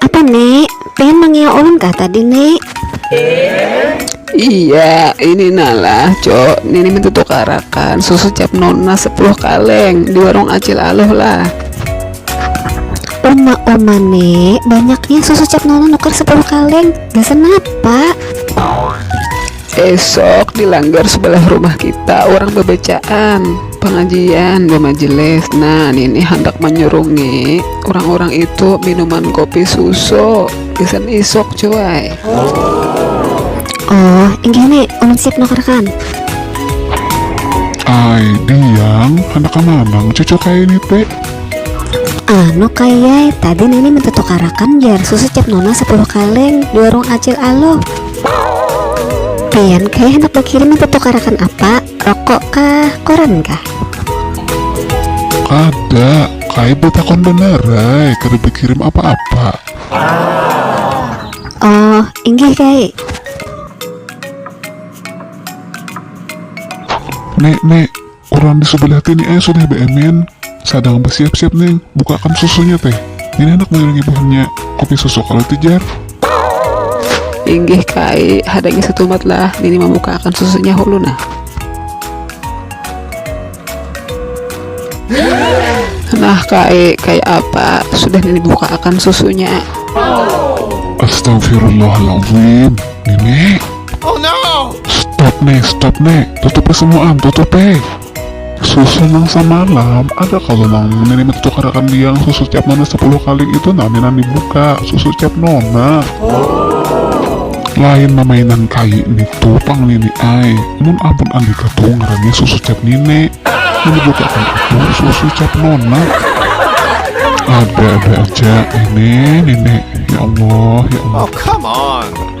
Apa nek? Pengen mangiau ulun kah tadi nek? Iya, ini nalah cok, nini minta tukarakan susu cap nona sepuluh kaleng di warung acil aluh lah. Uma uma nek, banyaknya susu cap nona nukar sepuluh kaleng, gasan apa? Esok di langgar sebelah rumah kita orang bebacaan, pengajian, bemajelis. Nah, nini handak manyurungi urang-urang itu minuman kopi susu gasan isuk cuai. Oh, inggih ni, ulun siap nukarkan. Ai, Diyang, handak ka manang cucu kaya ini te? Anu Kak Yay, tadi nini minta tukarakan jar susu cap nona sepuluh kaleng di warung Acil Aluh. Pian kaya handak bakirim itu tukarakan apa? Rokok kah? Koran kah? Kada, kaya batakon banar ai, kada bakirim apa-apa. Oh, inggih Kai. Nek, nek, Urang di subelah tini ai sudah beemin, sadang besiap-siap ning, bukakan susunya teh. Ini handak menyurungi buhannya kopi susu kalu itu jar. Inggih ka ai, hadangi setumat lah, nini membukaakan susunya hulu nah. Nah ka ai, kaya apa, sudah nini bukaakan susunya. Astagfirullahalazim, nini. Oh no! Stop ne, stop ne, tutup e semuaan, tutup e. Susu nang samalam, ada kalo nang ngini minta tukarakan diang susu cap nona sepuluh kaling itu nah minan dibuka, susu cap nona. Lain mamainan kayi nitu pang nini ai, mun amun andika tu ngarannya susu cap nini, nang dibukakan itu susu cap nona. Ada ada aja nini, nini, ya allah, ya allah. Oh come on!